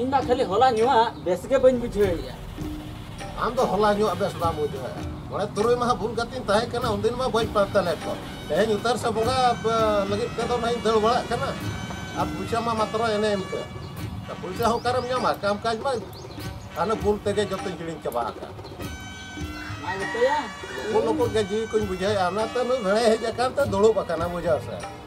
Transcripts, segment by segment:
ᱤᱧ ᱢᱟ ᱠᱷᱟᱹᱞᱤ ᱦᱚᱞᱟ ᱧᱩᱣᱟᱜ ᱵᱮᱥ ᱜᱮ ᱵᱟᱹᱧ ᱵᱩᱡᱷᱟᱹᱣᱮᱫᱼᱟ ᱟᱢ ᱫᱚ ᱦᱚᱞᱟ ᱧᱩᱣᱟᱜ ᱵᱮᱥ ᱵᱟᱢ ᱵᱩᱡᱷᱟᱹᱣᱮᱫᱼᱟ ᱢᱚᱬᱮ ᱛᱩᱨᱩᱭ ᱢᱟᱦᱟ ᱵᱩᱞ ᱠᱟᱛᱮᱧ ᱛᱟᱦᱮᱸ ᱠᱟᱱᱟ ᱩᱱᱫᱤᱱ ᱢᱟ ᱵᱟᱹᱧ ᱯᱟᱱᱛᱮ ᱞᱮᱫ ᱠᱚ ᱛᱮᱦᱮᱧ ᱩᱛᱟᱹᱨ ᱥᱮ ᱵᱚᱸᱜᱟ ᱞᱟᱹᱜᱤᱫ ᱛᱮᱫᱚ ᱱᱟᱧ ᱫᱟᱹᱲ ᱵᱟᱲᱟᱜ ᱠᱟᱱᱟ ᱟᱨ ᱯᱩᱭᱥᱟ ᱢᱟ ᱢᱟᱛᱨᱚ ᱮᱱᱮ ᱮᱱᱛᱮ ᱯᱩᱭᱥᱟ ᱦᱚᱸ ᱚᱠᱟᱨᱮᱢ ᱧᱟᱢᱟ ᱠᱟᱢ ᱠᱟᱡᱽ ᱢᱟ ᱦᱟᱱᱮ ᱵᱩᱞ ᱛᱮᱜᱮ ᱡᱚᱛᱚᱧ ᱦᱤᱲᱤᱧ ᱪᱟᱵᱟ ᱟᱠᱟᱫ ᱱᱩᱠᱩ ᱱᱩᱠᱩ ᱜᱮ ᱡᱤᱣᱤ ᱠᱚᱧ ᱵᱩᱡᱷᱟᱹᱣᱮᱫᱼᱟ ᱚᱱᱟᱛᱮ ᱱᱩᱭ ᱵᱷᱮᱲᱟᱭ ᱦᱮᱡ ᱟᱠᱟᱱ ᱛᱮ ᱫᱩᱲᱩᱵ ᱟᱠᱟᱱᱟ ᱵᱩᱡᱷᱟᱹᱣ ᱥᱮ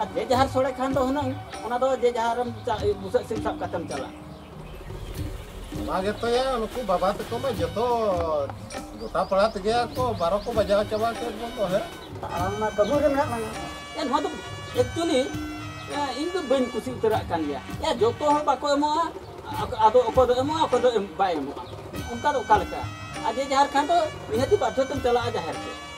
ᱟᱨ ᱡᱮ ᱡᱟᱦᱟᱨ ᱥᱚᱲᱮ ᱠᱷᱟᱱ ᱫᱚ ᱦᱩᱱᱟᱹᱝ ᱚᱱᱟ ᱫᱚ ᱡᱮ ᱡᱟᱦᱟᱨᱮᱢ ᱵᱩᱥᱟᱹᱜ ᱥᱤᱢ ᱥᱟᱵ ᱠᱟᱛᱮᱢ ᱪᱟᱞᱟᱜ ᱚᱱᱟ ᱜᱮᱛᱚᱭᱟ ᱱᱩᱠᱩ ᱵᱟᱵᱟ ᱛᱟᱠᱚ ᱢᱟ ᱡᱚᱛᱚ ᱜᱚᱴᱟ ᱯᱟᱲᱟ ᱛᱮᱜᱮ ᱠᱚ ᱵᱟᱨᱚ ᱠᱚ ᱵᱟᱡᱟᱣ ᱪᱟᱵᱟ ᱠᱮᱫ ᱵᱚᱱ ᱫᱚ ᱦᱮᱸ ᱟᱢ ᱢᱟ ᱠᱟᱹᱢᱤ ᱨᱮ ᱢᱮᱱᱟᱜ ᱞᱟᱝᱟ ᱮᱱᱦᱚᱸ ᱫᱚ ᱮᱠᱪᱩᱭᱮᱞᱤ ᱤᱧ ᱫᱚ ᱵᱟᱹᱧ ᱠᱩᱥᱤ ᱩᱛᱟᱹᱨᱟᱜ ᱠᱟᱱ ᱜᱮᱭᱟ ᱮ ᱡᱚᱛᱚ ᱦᱚᱲ ᱵᱟᱠᱚ ᱮᱢᱚᱜᱼᱟ ᱟᱫᱚ ᱚᱠᱚᱭ ᱫᱚ ᱮᱢᱚᱜᱼᱟ ᱚᱠᱚᱭ ᱫᱚ ᱵᱟᱭ ᱮᱢᱚᱜᱼᱟ ᱚᱱᱠᱟ ᱫᱚ ᱚᱠᱟ ᱞᱮᱠᱟ ᱟᱨ ᱡᱮ ᱡᱟᱦᱟᱨ ᱠᱷᱟᱱ ᱫᱚ ᱱᱤᱦᱟᱹᱛᱤ ᱵᱟᱫᱽᱫᱷᱚ ᱛᱮᱢ ᱪᱟᱞᱟᱜᱼᱟ ᱡᱟᱦᱮᱨ ᱛᱮ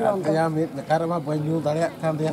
ᱫᱟᱲᱮᱭᱟᱜ ᱠᱟᱱ ᱛᱟᱭᱟ ᱢᱤᱫ ᱞᱮᱠᱟ ᱨᱮᱢᱟ ᱵᱟᱹᱧ ᱧᱩ ᱫᱟᱲᱮᱭᱟᱜ ᱠᱟᱱ ᱛᱟᱭᱟ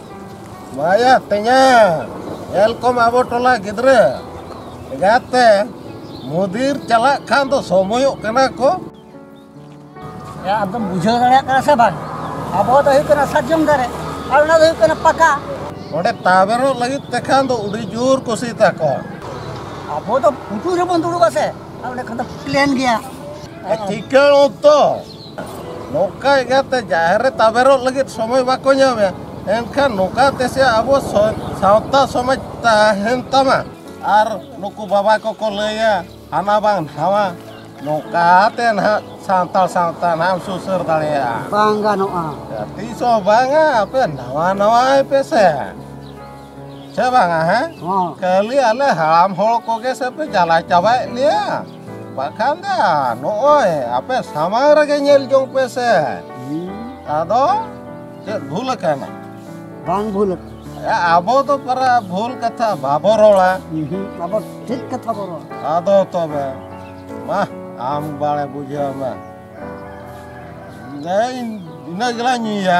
ᱵᱟᱭᱟ ᱛᱮᱧᱟ ᱧᱮᱞ ᱠᱚᱢ ᱟᱵᱚ ᱴᱚᱞᱟ ᱜᱤᱫᱽᱨᱟᱹ ᱮᱸᱜᱟᱛ ᱛᱮ ᱢᱩᱫᱤᱨ ᱪᱟᱞᱟᱜ ᱠᱷᱟᱱ ᱫᱚ ᱥᱚᱢᱚᱭᱚᱜ ᱠᱟᱱᱟ ᱠᱚ ᱮ ᱟᱫᱚᱢ ᱵᱩᱡᱷᱟᱹᱣ ᱫᱟᱲᱮᱭᱟᱜ ᱠᱟᱱᱟ ᱥᱮ ᱵᱟᱝ ᱟᱵᱚ ᱫᱚ ᱦᱩᱭᱩᱜ ᱠᱟᱱᱟ ᱥᱟᱨᱡᱚᱢ ᱫᱟᱨᱮ ᱟᱨ ᱚᱱᱟ ᱫᱚ ᱦᱩᱭᱩᱜ ᱠᱟᱱᱟ ᱯᱟᱠᱟ ᱚᱸᱰᱮ ᱛᱟᱵᱮᱨᱚᱜ ᱞᱟᱹᱜᱤᱫ ᱛᱮᱠᱷᱟᱱ ᱫᱚ ᱟᱹᱰᱤ ᱡᱳᱨ ᱠᱩᱥᱤ ᱛᱟᱠᱚ ᱟᱵᱚ ᱫᱚ ᱯᱩᱴᱩᱨ ᱨᱮᱵᱚᱱ ᱫᱩᱲᱩᱵᱟ ᱥᱮ ᱟᱨ ᱚᱸᱰᱮ ᱠᱷᱟᱱ ᱫᱚ ᱯᱞᱮᱱ ᱜᱮᱭᱟ ᱴᱷᱤᱠᱟᱹ ᱚᱠᱛᱚ ᱱᱚᱝᱠᱟ ᱤᱭᱟᱹᱛᱮ ᱡᱟᱦᱮᱨ ᱨᱮ ᱛᱟᱵᱮᱨᱚᱜ ᱞᱟᱹᱜᱤᱫ ᱥᱚᱢᱚᱭ ᱵᱟᱠᱚ ᱧᱟᱢᱮᱫ ᱮᱱᱠᱷᱟᱱ ᱱᱚᱝᱠᱟ ᱛᱮᱥᱮ ᱟᱵᱚ ᱥᱟᱶᱛᱟ ᱥᱚᱢᱟᱡᱽ ᱛᱟᱦᱮᱱ ᱛᱟᱢᱟ ᱟᱨ ᱱᱩᱠᱩ ᱵᱟᱵᱟ ᱠᱚᱠᱚ ᱞᱟᱹᱭᱟ ᱦᱟᱱᱟ ᱵᱟᱝ ᱱᱟᱣᱟ ᱱᱚᱝᱠᱟ ᱛᱮ ᱱᱟᱦᱟᱜ ᱥᱟᱱᱛᱟᱲ ᱥᱟᱶᱛᱟ ᱱᱟᱦᱟᱜ ᱮᱢ ᱥᱩᱥᱟᱹᱨ ᱫᱟᱲᱮᱭᱟᱜᱼᱟ ᱵᱟᱝ ᱜᱟᱱᱚᱜᱼᱟ ᱛᱤᱥ ᱦᱚᱸ ᱵᱟᱝᱟ ᱟᱯᱮ ᱱᱟᱣᱟ ᱱᱟᱣᱟᱭ ᱯᱮᱥᱮ ᱪᱮ ᱵᱟᱝᱟ ᱦᱮᱸ ᱠᱷᱟᱹᱞᱤ ᱟᱞᱮ ᱦᱟᱲᱟᱢ ᱦᱚᱲ ᱠᱚᱜᱮ ᱥᱮ ᱯᱮ ᱡᱟᱞᱟ ᱪᱟᱵᱟᱭᱮᱫ ᱞᱮᱭᱟ ᱵᱟᱠᱷᱟᱱ ᱫᱚ ᱱᱚᱜᱼᱚᱭ ᱟᱯᱮ ᱥᱟᱢᱟᱝ ᱨᱮᱜᱮ ᱧᱮᱞ ᱡᱚᱝ ᱯᱮ ᱥᱮ ᱟᱫᱚ ᱪᱮᱫ ᱵᱷᱩᱞ ᱟᱠᱟᱱᱟ ᱵᱟᱝ ᱵᱷᱩᱞ ᱟᱵᱚ ᱫᱚ ᱯᱟᱨᱟ ᱵᱷᱩᱞ ᱠᱟᱛᱷᱟ ᱵᱟᱵᱚ ᱨᱚᱲᱟ ᱟᱵᱚ ᱴᱷᱤᱠ ᱠᱟᱛᱷᱟ ᱵᱚ ᱨᱚᱲᱟ ᱟᱫᱚ ᱛᱚᱵᱮ ᱢᱟ ᱟᱢ ᱵᱟᱲᱮ ᱵᱩᱡᱷᱟᱹᱣ ᱢᱮ ᱤᱱᱟᱹ ᱜᱮᱞᱟᱝ ᱧᱩᱭᱟ